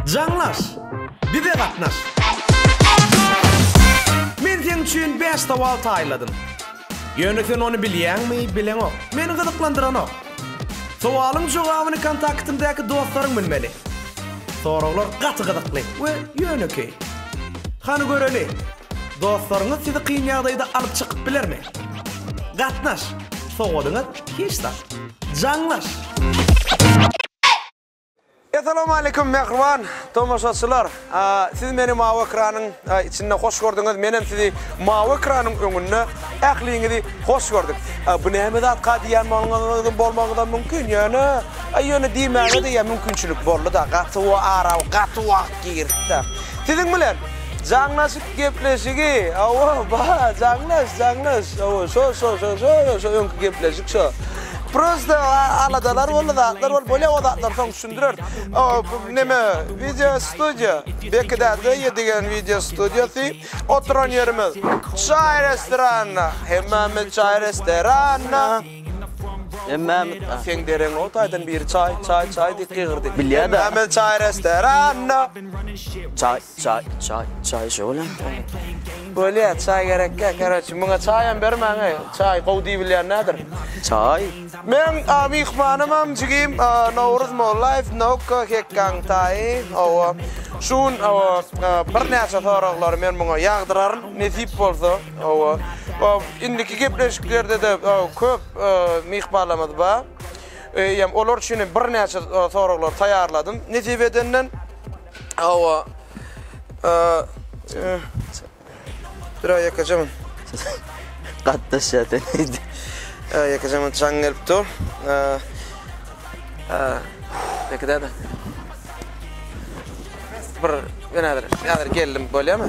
Jaňlaş! Bize gatnaş! Men seň üçin bäş sowal taýynladym. Ýöne sen ony bilýäňmi, bileňok. Meni gyzyklandyranok. Sowalyň jogabyny kontaktyňdaky dostlaryň bilmeli. Soraglar gaty gyzykly we ýönekeý. Hany göreli! Dostlaryňyz sizi kyn ýagdaýda alyp çykyp bilermi? Gatnaş! Sowadyňyz hiç zat. Jaňlaş! Essalawmaleýkum mähriban tomaşaçylar! Siz meni mawy ekranyň içinde hoş gördüňiz, menem sizi mawy ekranyň öňünde ähliňizi hoş gördük. Bu näme zatka diýýän bolmagyňyz bolmagyňyzam mümkin, ýöne ýöne diýmäge-de ýa mümkinçilik boldy-da, gaty wagtym, gaty wagt. Girtda. Siziň bilen jaňlaşyp gepleşigi, hawa, bar, jaňlaş, jaňlaş, hawa, şo, şo, şo, şo, şo öňki gepleşik şo. Prosta aladalar boldy, zatlar boldy, bolýa, o zatlary soň düşündireris. O, neme, wideo studiýa, Bekide Döýe diýen wideo studiýasy, oturan ýerimiz çaý restoranda, hemmämiz çaý restoranda. Hemmämiz a. Seň dereň o taýdan biri çaý, çaý, çaý diýip gygyrdy. Bilýär da. Hemmämiz çaý restoranda. Çaý, çaý, çaý, çaý şo bolýamy? Bolýar, çaý gerekkä, karoçi, muňa çaýam bermäň-eý, çaý gowy diýibilýän näder? Çaý. Meň a myhmanymam jigim a Nowruz Mollaýew, Nowka Hekgaň taýy, hawa. Şu gün, hawa, birnäçe soraglary men muňa ýagdyraryn, nesip bolsa. Hawa. Indiki gepleşiklerde-de köp myhmanlarymyz bar. Eýýäm olar üçin hem birnäçe soraglar taýýarladym. Nesip edenden, hawa, bir-ä ýekeje men. Gatnaşýar sen öýde. Ýekeje men çaň gelip dur. Ýekeje-de. Bir, ýene-de, häzir geldim, bolýamy?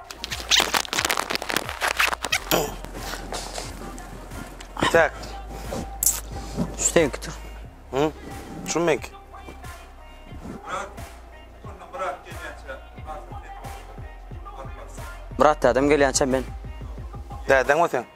Tek. Şu tektir. Hı? Şu mek. Brat adam gelýänçä men. Däden o sen.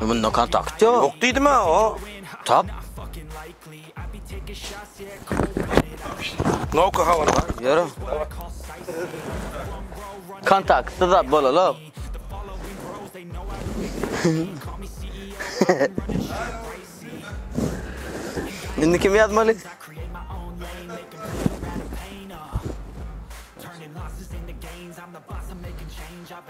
Munda kontakt ýok. Ýok diýdim-ä o. Tap. Knopka habar bar. Ýöre. Kontaktda zat bolalok. Indi kim ýazmaly?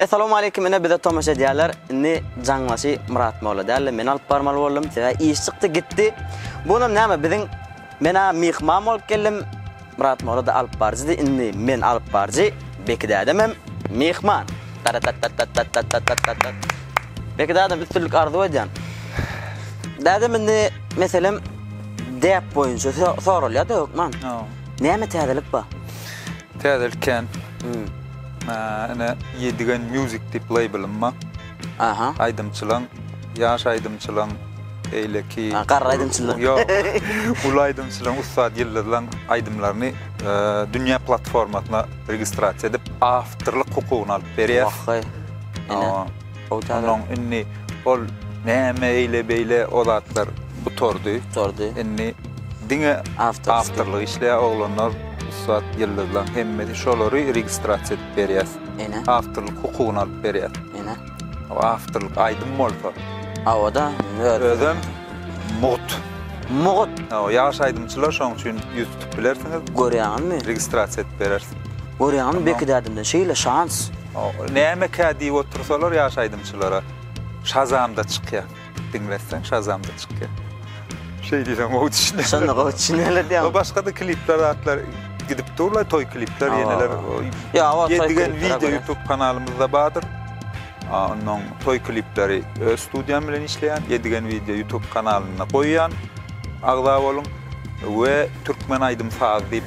Essalawmaleýkim ine bize tomaşa edýärler indi jaňbaşy Myrat molla dälde men alyp barmaly boldum sebäbi iş çykdy gitdi bunam näme biziň mena myhman bolup geldim Myrat mollada alyp baryjydy indi men alyp baryjy Beki dädemem myhman taratattattattattattattattat Beki dädem üstünlik arzuw edýän dädem indi meselem däp boýunça soralýada hökman näme täzelik bar. Täze ilkän ine Ýedigen Music diýip labelym bar. Aha. Aýdymçylaň, ýaş aýdymçylaň, beýleki. Ha, garry aýdymçylaň. Ýok. Uly aýdymçylaň, ussat ýyldyzlaň aýdymlaryny dünýä platformasyna registrasiýa edip, awtorlyk hukugyny alyp berýär. Wah haý. Ine. Onuň indi ol näme eýle-beýle o zatlar gutardy. Gutardy. Indi Diňe awtorlyk işleýär oglanlar, ussat ýyldyzlaň hemmesi şolary registrasiýa edip berýäs. Ene. Awtorlyk hukugyny alyp berýäs. Ene. O awtorlyk aýdym bolsa. Awa-da, özüm mugt. Mugt. Hawa, ýaş aýdymçylar şoň üçin ýüz tutup bilersiňiz. Görýäňizmi? Registrasiýa edip bereris. Görýäňizmi Bekidädimden şeýle şans. Nämekä diýip otursalar ýaş aýdymçylara. Şazamda çykýar. Diňletseň şazamda çykýar. Şeý diýseň gowy düşünýär. Şonda gowy düşünýärler diýýäň. Başga-da klipler zatlar gidip durlar, toý klipler ýeneler. Ýa, o toý klipler. Video YouTube kanalymyzda bardyr. Ondan toý klipleri öz studiýam bilen işleýän, edigen video YouTube kanalynda goýýan. Agza boluň we türkmen aýdym saz diýip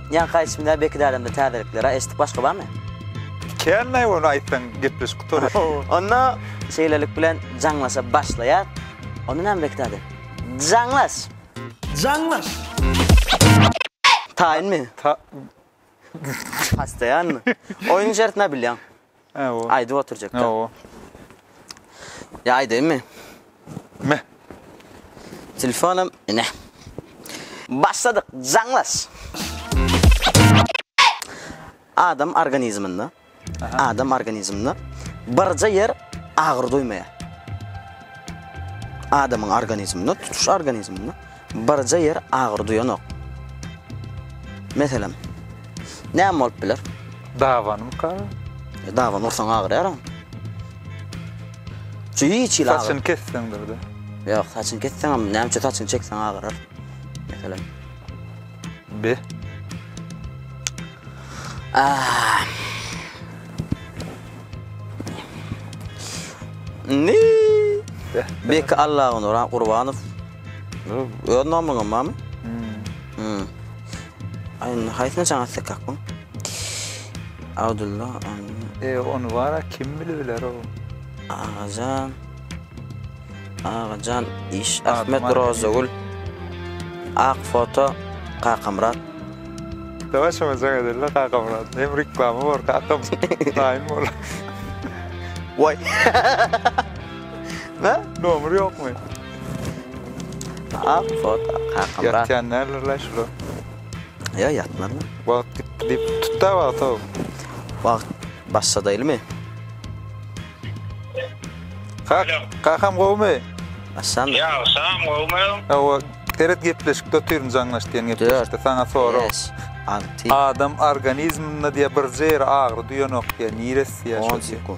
Ýaňky aýdyşym däl Beki dädemde täzelikler a eşitdik başga barmy. Kän näme ony aýtsaň gepleşik gutarar. Onda şeýlelik bilen jaňlaşa başlaýas. Onda näme Beki däde. Jaňlaş! Jaňlaş! Taýynmy? Ta Hastaýanmy? Oýnuň şertini-ä bilýäň. Hawa. Aýdyp oturjakda. Hawa. Ýa aýdaýynmy? Me. Telefonam ine. Başladyk, jaňlaş! Adam organizminde, adam organizminde birje ýer agyry duýmaýar. Adamyň organizminde, tutuş organizminde Birje ýer agyry duýanok. Meselem, näme bolup biler? Dabanymyka? Daban ursaň agyrýar-a. Şu hiç hili agyr. Saçyny kesseňdir-de. Ýok, saçyny kesseňem, näme üçin saçyny çekseň agyrar. Meselem. B. A. Ni. Beki Allagunura Gurbanow Öz nomeriňem barmy? Hmm. Aýna haýsyna çaň atsak kakmy? Abdulla. E onu bara kim bile biler o. Agajan. Agajan iş Ahmet Rozagül. Ak foto Kakamrat. Dawa şoňa jaň edeli Kakamrat. Hem reklama bar kakam. Daýyn bol. Vay. Ne? Nomer ýokmy? Ak fot kakam bar. Ýatýan nälerler şular. Ýa ýatman. Wagt gitdi diýip tutda wagta. Wagt başladaýlymy? Kak, kakam gowmy? Aşam. Ýa, aşam gowmy? Awa, seret gepleşikde otyryn jaňlaş diýen gepleşikde saňa sorag. Adam organizminde diýe birje ýeri agyry duýanok diýe, niresi diýe.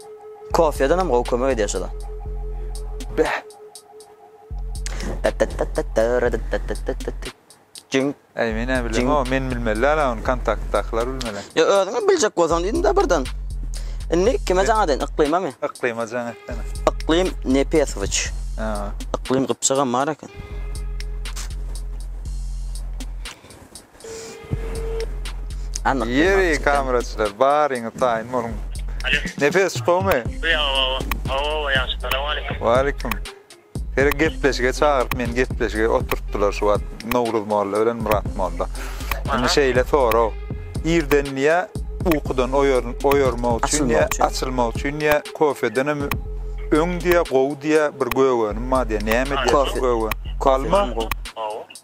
Kofedanam gowy kömek edýär şoda. Jüň. Äý men näme bilerin o men bilmeli däl ony kontaktdakylar bilmeli. Ýa özüňem biljek bolsaň diýdim-de birden. Indi kime jaň edeýin yklymamy? Yklyma jaň etsene. Yklym Nepesowiç. Ha. Yklym gypjagam bar eken. Ýeri kameraçylar baryňyz taýyn boluň. Nepes çykawmy? Waleýkim. Gerek gepleşige çagyryp meni gepleşige oturtdylar şu wagt Nowruz molla bilen Myrat molla. Indi şeýle sorag. Irden diýä ukudan oýarmak üçin diýä açylmak üçin diýä kofeden hem öň diýä gowy diýä bir gögenim bar diýä näme diýä gowy. Alma.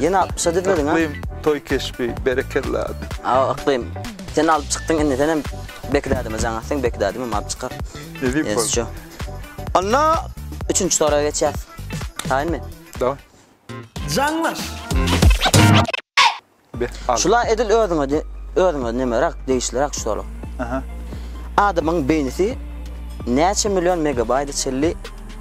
Ýene altmyşa düzmediň-a? Yklym toý keşbi, berekella. Aw Yklym, sen alyp çykdyň indi senem Beki dädeme jaň atsaň Beki dädemem alyp çykar. Nebip bol. Ýazjo. Onda üçünji soraga geçýäs. Taýynmy? Daway. Jaňlaş! Be, al. Şula edil özüňe de, özüňe nemerak, degişlirak şu sorag. Aha. Adamyň beýnisi näçe million megabaýta çenli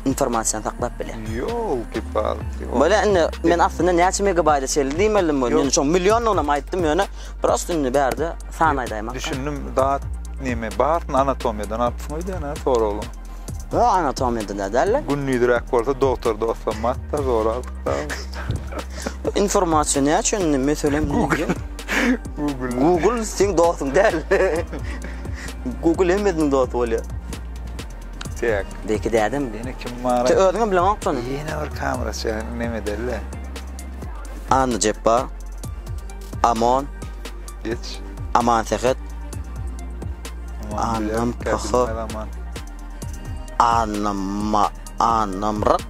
informasiýany saklap bilýär. Ýolki palki. Bolýa indi men aslynda näçe megabaýta çenli diýmeldim bolýa. Ýöne şoň millionlygynam aýtdym ýöne prosta indi bärde san aýdaýmak. Düşündim dat neme baryn anatomiýadan alypsyň öýdýän-ä soraglaryň. Ýok anatomiýadan-da däldir. Gündizräk bolsa dogtor dostum mat-da zor alypda. Informasiýa näçe indi meselem Google. Google. Google seň dostuň däl. Google hemmeziň dosty bolýar. Tek. Beki dädem. Ýene kim bar? Sen özüňem bileňok şony. Ýene bir kameraçy neme delle. Anna Jeppa. Amon. Geç. Aman Sehet. Annam Paho. Annam Annam Rak.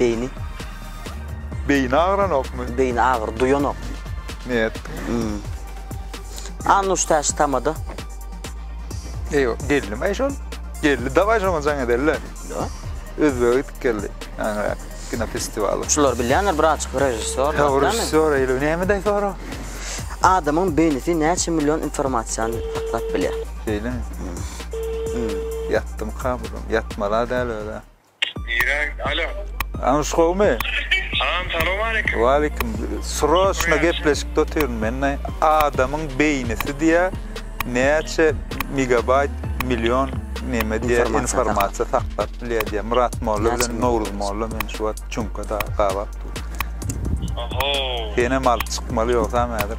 Beýni. Beýni agyranokmy? Beýni agyry duýanokmy? Ne etdiň? A nuş täşi tamada. Eý, gelnimi-aý şol? Geldi, dawaý şoňa jaň edeli-le. Da. Özbege gidip geldi. Aňrak kinofestiwaly. Şular bilýändir, braçka režissýor. Hawa, režissýor eýle. Nämede sora? Adamyň beýnisi näçe million informasiýany saklap bilýär? Şeýlemi? Ýatdym kabulym. Ýatmala däl öle. Niräň? Alo. Anuş gowmy? Salam, salowmaleýkim. Waleýkim. Sroçno gepleşikde otyryn men. Adamyň beýnisi diýä näçe megabaýt, million neme diýä informasiýa saklap bilýä diýä. Myrat molla bilen Nowruz molla meni şu wagt çuňkada gabap dur. Oho. Senem alyp çykmaly ýogsam häzir.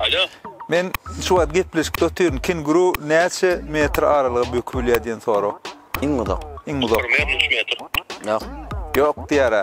Alo. Men şu wagt gepleşikde otyryn. Kenguru näçe metr aralyga böküp bilýär diýen sorag. Iň uzak. Iň uzak. 1 metr, 3 metr. Ýok. Ýok diýýär-ä.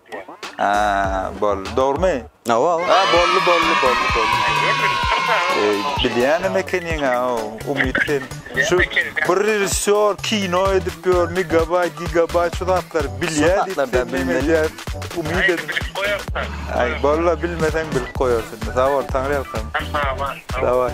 Boldy, dogrumy? Hawa, hawa. Boldy, boldy, boldy, boldy. Bilýänem ekeniň-ä, Umyt sen. Şu bir režissýor kino edip ýör, megabaýt, gigabaýt şu zatlary bilýär diýip sen neme edýäň? Umyt edip. Bilip goýarsyň. Aý, boldy, bilmeseň bilip goýarsyň. Sag bol, Taňryýalkasyn. Sag bol. Dawaý.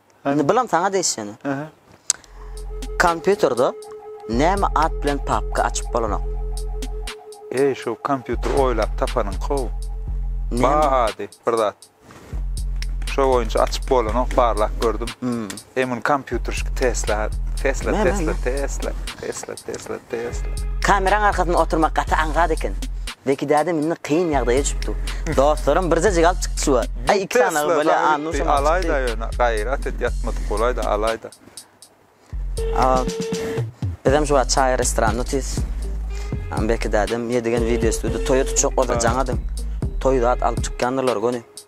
Indi bulam saňa degişeni. Aha. Kompýuterde näme at bilen papka açyp bolanok? Eý, şu kompýuter oýlap tapanyň how? Ba ady bir zat. Şo boýunça açyp bolanok, barlap gördüm. Hmm. Emin kompýuterşik Tesla, Tesla, Tesla, Tesla, Tesla. Tesla Tesla. Kameraň arkasynda oturmak gaty aňsat eken. Zeki dädem indi kyn ýagdaýa çüpdi. Dostlarym bir zejik alyp çykdy şuwa. Aý iki sany ogul bolýa a nuş hem alyp çykdy. Alaýda ýöne gaýrat et ýatmadyk bolaýda alaýda. Bizem şu wagt çaý restoranynda otyrys. Zeki dädem ýedigen wideo studi toýa tutjak bolsa jaň adyň. Toý zat alyp çykýandyrlar göni.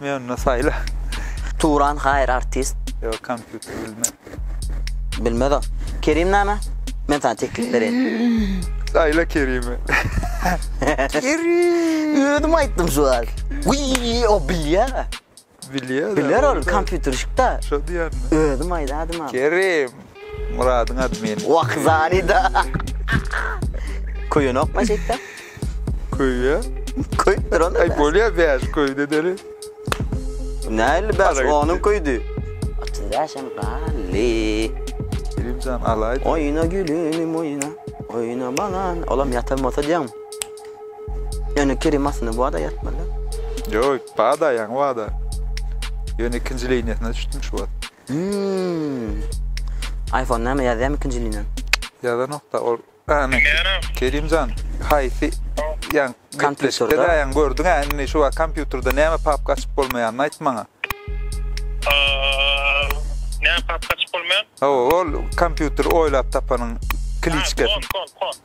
Mionny saýla. Turan haýyr artist. Ýok kompýuter bilmez. Bilmez o. Kerim name? Men sana teklip bereýin. Saýla Kerimi. Kerim. Özüm aýtdym şu wagt. Wiý, o bilýär. Bilýär. Biler ol kompýuterşik da. Şo diýýärmi? Özüm aýdadym. Kerim. Myradyň admin. Wokzali da. Köýenok ma şeýtde? Köýýä. Köýüp duran. Aý bolýa bäş köýde deri. Näli bäş onuň köýdi. Atsyz bäşem gally. Bilimjan alaýdy. Oýna gülüm oýna. Oýna balan. Olam ýatan bolsa diýen. Ýöne Kerim aslynda bu ada ýatmaly. Ýok, bada ýaňy bada. Ýöne ikinji liniýasyna düşdüm şu wagt. Hmmm. Iphone näme ýazýamy ikinji liniýa. Ýazanokda ol. Kerimjan haýsy ýan gepleşikde däýen gördüňä indi şu wagt kompýuterde näme papka açyp bolmaýanyny aýt maňa. Näme papka açyp bolmaýan? Hawa ol kompýuter oýlap tapanyň kliçkasy. Kon kon kon.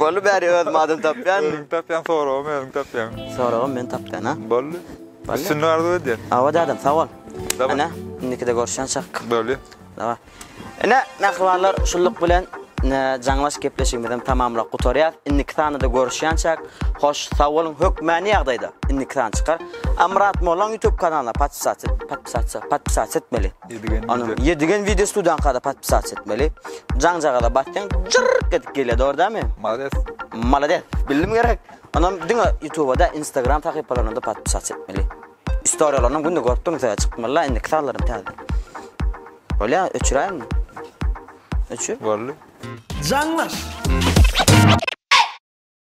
Boldy bäri özüm adam tapýan. Özüň tapýan soragam özüň tapýan. Soragam men tapýan ha. Boldy. Üstünlik arzuw edýän. Awa dadam sag bol. Ene indikide görüşýänçak. Boldy. Daway. Ene mähribanlar şulluk bilen jaňlaş gepleşigimizem tamamlap gutarýas. Indiki sanada görüşýänçak. Hoş sag boluň. Hökmäni ýagdaýda indiki san çykar. Amyrat mollaň YouTube kanalyna patpisat patpisat patpisat etmeli. Ony ýedigen wideo studiýaňkada podpisat etmeli. Jaňjagaza basýaň, jyrrk edip gelýär, dogry dälmi? Malades. Malades. Bildim gerek. Onam diňe YouTubada, Instagram sahypalaryna da podpisat etmeli. Istoriýalaryny günde görüp durmyň, täze çykmaly, indiki sazlarym täze. Bolýa, öçüräýin. Öçür. Boldy. Jaňlaş.